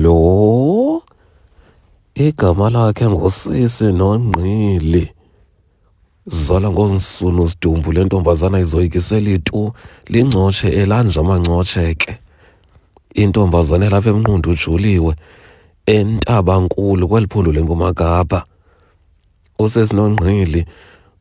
Lo igama lakhe ngusisi nongqili. Zala ngoonsunu sidumbu le ntombazana izoyikiseli tu lingcotshe elanje amancotshe ke. Intombazana elapha emnqundu ujuliwe entabankulu kweli phondo lempuma kapa. usezinongqili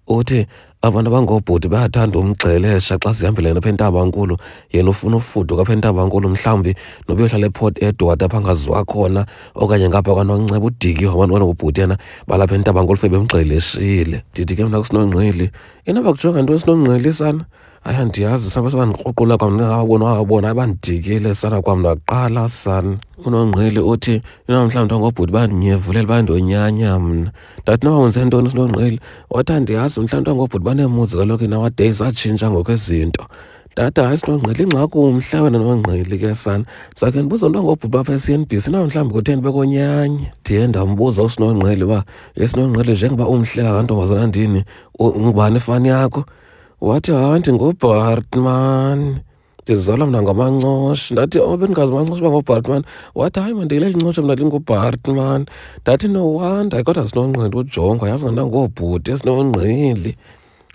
uthi abantu abangoobhuti bayathanda umgxelesha xa sihambelene apha entabankulu yena ufuna ufuduka apha entabankulu mhlawumbi noba uyohlala eport edward apha angaziwa khona okanye ngapha kwanonceba udiki wabantu banobhuti yena balapha entabankulu fe bemgxeleshile ndithi ke mna kusinongqili inoba kujonga nto esinongqili sana hayi andiyazi sana base bandikruqula kwam ndingawabona wawabona abandidikile sana kwam ndaqala sana unongqili uthi inamhlawumbi ntangobhuti bandinyevulela bandonyanya mna ndathi noba wenze ntoni sinongqili wathi andiyazi mhlawumbi ntangobhuti baneemuzi kaloku inawadays atshintsha ngokwezinto Data hayi sinongqili ingxaki umhla wena nongqili ke sana sakhe ndibuza umntu angobhuti bapha e-CNBC na mhlawumbi kutheni bekonyanye ndiye ndambuza usinongqili uba esinongqili njengoba umhle kangantombazana ndini ngubani ifani yakho wathi hayi ndingubartman ndizizala mna ngamancosh ndathi o oh, bendingazi mancosh uba ngubartman wathi hayi mandile lincosh mna lingubartman ndathi no wonder kodwa sinonqindi ujongwa yazi ngana ngoobhuti esinonqili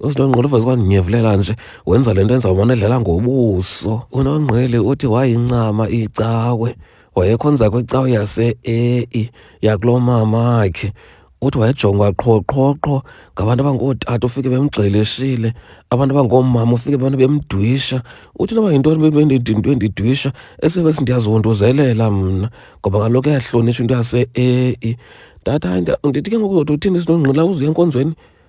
usinonqili uveze kwandinyevlela nje wenza le nto enza umane edlala ngobuso unonqili uthi wayincama icawe wayekhonza kwicawe yase-ei yakuloo mamakhe uthi wayejongwa qho qho qho ngabantu abangootata ufike bemgxeleshile abantu abangoomama ufike abantu bemdwisha uthi noba yintoni into endidwisha esebe sindiyazihunduzelela mna ngoba kaloku yahlonitsha into yase-ei ndati hayi ndithi ke ngoku zothi uthini sinongqila uzuya enkonzweni